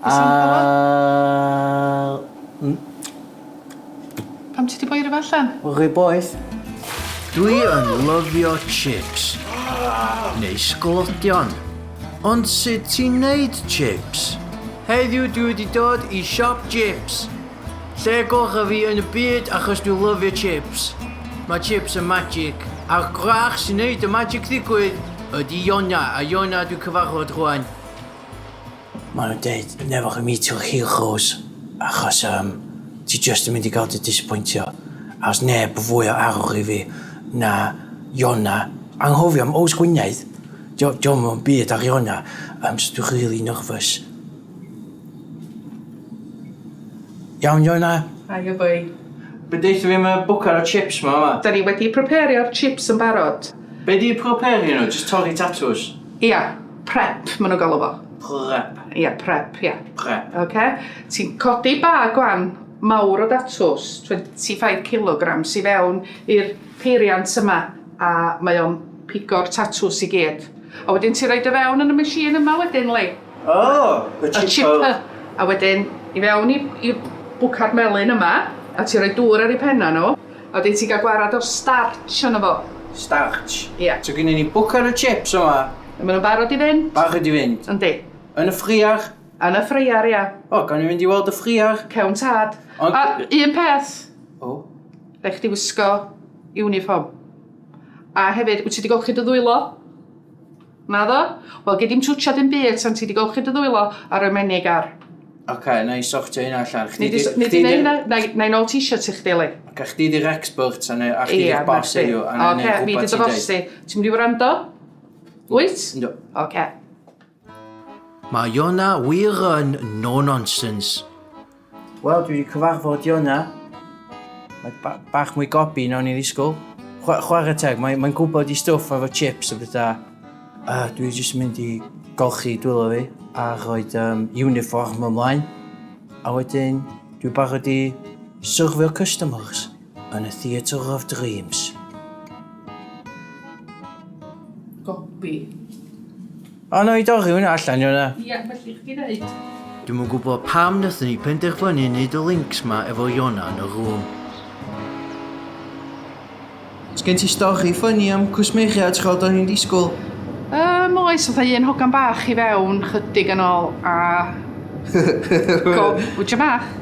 Oes am clywed? Yy mm. Pam ti 'di boi rwbeth allan? Rhy boeth. Dwi yn lyfio chips. Neu sglotion. Ond sut ti'n neud chips? Heddiw dwi wedi dod i siop chips. Lle gorau fi yn y byd achos dwi lyfio chips. Mae chips yn magic. A'r gwrach sy'n neud y magic ddigwydd ydy Iona. A Iona dwi cyfarfod rwan. Mae nhw'n deud newch i mi to heel chos, achos um, ti just yn mynd i gael dy disappointio. A os neb yn fwy o arwch i fi na Iona, anghofio am Ows Gwynedd, diolch yn byd ar Iona, um, so dwi'n really nervous. Iawn, Iona? Aio boi. Be deitha fi mae bwcar o chips ma yma? Da ni wedi prepario'r chips yn barod. Be di prepario nhw? Just torri tatws? Ia. Prep, maen nhw'n galw fo. Prep. Ie, yeah, prep, ie. Yeah. Prep. Oce. Okay. Ti'n codi ba gwan mawr o datws, 25 kg, i fewn i'r peiriant yma, a mae o'n pigo'r tatws i gyd. A wedyn ti'n rhaid y fewn yn y machine yma wedyn, Lee. O, oh, y chipper. Y chipper. A wedyn, i fewn i, i bwca'r melun yma, a ti'n rhoi dŵr ar ei penna nhw, A dwyt ti gael gwarad o'r starch arno fo? Starch? Ia. So gynnon ni bwcar o chips yma. A ma' nhw'n barod i fynd? Barod i fynd. Yndi. Yn y ffriar? Yn y ffriar, ia. O, gawn ni fynd i weld y ffriar? Cawn tad. Ond... A, un peth. O? Rhaid chdi wisgo uniform. A hefyd, wyt ti wedi golchi dy ddwylo? Naddo? Wel, gei di'm twtsio dim byd tan ti 'di golchi dy ddwylo ar y menig ar. Ocê, na i sortio hynna allan. Chdi di... Nei di neud hynna? Na i nôl t-shirt i chdi, Lee. Ocê, chdi di'r expert a chdi di'r boss heddiw. Ocê, fi di dy boss di. Ti'n mynd i wrando? Wyt? Yndw. Ocê. Mae hwnna wir yn no-nonsense. Wel, dwi wedi cyfarfod Iona. Mae ba bach mwy gobi na o'n i'n ddisgwyl. Chwa chwarae teg, mae'n mae gwybod i stwff efo chips a bethau. A dwi jyst mynd i golchi dwylo fi a rhoi um, uniform ymlaen. A wedyn, dwi barod i syrfio customers. Yn y Theatre of Dreams. Gopi. O, na i dorri hwnna allan, yw na? Ia, felly chdi ddeud. Dwi'm yn gwybod pam nathon ni penderfynu neud y links ma efo Iona yn y rŵm. Sgen ti stori ffynnu am cwsmeriaid tra oeddwn ni'n disgwyl? Yym oes, fatha un hogan bach i fewn chydig yn ôl a... Go- Wtcha bach!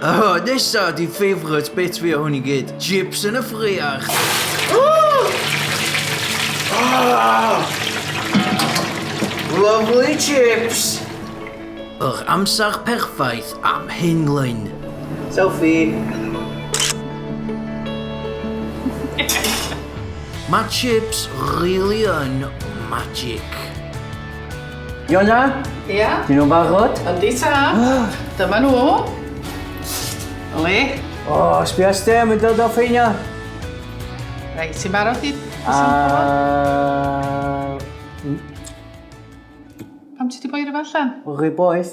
Aha, nesa ydi favourite bit fi o hwn i gyd. Chips yn y ffriar! Lovely chips! Yr amser perffaith am hyn, Glyn. Selfie! Mae chips rili yn magic. Iona? Ia? Dyn nhw'n barod? Yndi ta. Dyma nhw. Oli? O, sbio stem yn dod o ffeinio. Reit, ti'n barod i... A... Pam ti di boi rhywbeth allan? Rhywbeth.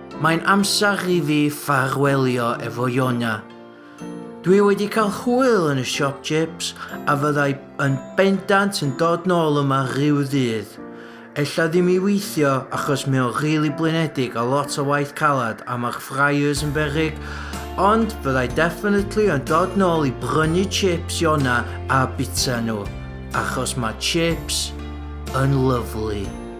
Mae'n amser i fi ffarwelio efo Ionia. Dwi wedi cael hwyl yn y siop chips a fyddai yn bendant yn dod nôl yma rhyw ddydd. Ella ddim i weithio achos mae o'n rili blinedig a lot o waith calad a mae'r fryers yn beryg, ond fyddai definitely yn dod nôl i brynu chips Iona a bita nhw, achos mae chips yn lyfli.